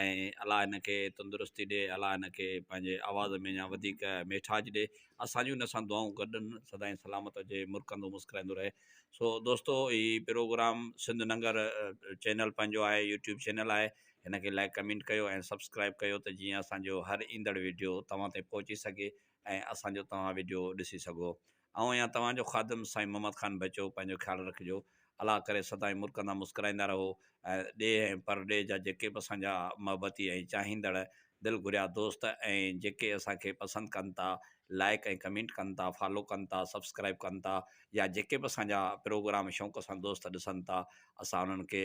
۽ الله هن کي تندرستي ڏي الله هن کي پنهنجي آواز ۾ اڃان وڌيڪ ميٺاج ڏي اسان جون هن سان دعائون گڏن سدائين سلامت هجي مرڪندو مسڪرائيندو رهي سو دوستو هي پروگرام سنڌ ننگر چينل پنهنجو آهي يوٽيوب چينل آهي هن کي لائڪ ڪمينٽ ڪيو ۽ سبسڪرائب ڪيو ته جيئن اسان جو هر ايندڙ ويڊيو توهان تائين پهچي سگهي ۽ اسان جو توهان ويڊيو ڏسي سگهو آئون آهيان توهان جو خادم سائين محمد خان بچو پنهنجو خيال رکجو الله ڪري سدائين مرڪندا مسڪرائيندا رهو ۽ ڏيهه ۽ پر ڏيهه جا جيڪي به اسان جا محبتي ۽ چاهيندڙ دل گهريا دوست ۽ جيڪي اسان کي پسند ڪن ٿا لائيڪ ۽ ڪمينٽ ڪن ٿا فالو ڪن ٿا سبسڪرائيب ڪن ٿا يا جيڪي به اسان جا پروگرام شوق سان دوست ڏسن ٿا اسان انهن کي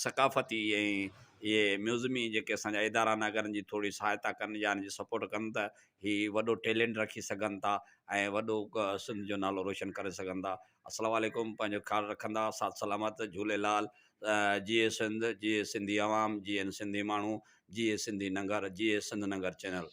ثقافتي ۽ اهي ميوزمي جيڪي اسان جا ادارا ناگارن جي ٿوري سهائتا ڪن يا ان جي سپورٽ ڪن ته هي وڏو ٽيلنٽ رکي سگهن ٿا ۽ وڏو سنڌ جو نالو روشن ڪري سگهن ٿا السلام عليڪم پنهنجو خيال رکندا ساٿ سلامت جهوليلال جيئي سنڌ جيئي سنڌي عوام جيئن سنڌي ماڻهو جيئي سنڌي ننگر جيئي سنڌ ننگر چينل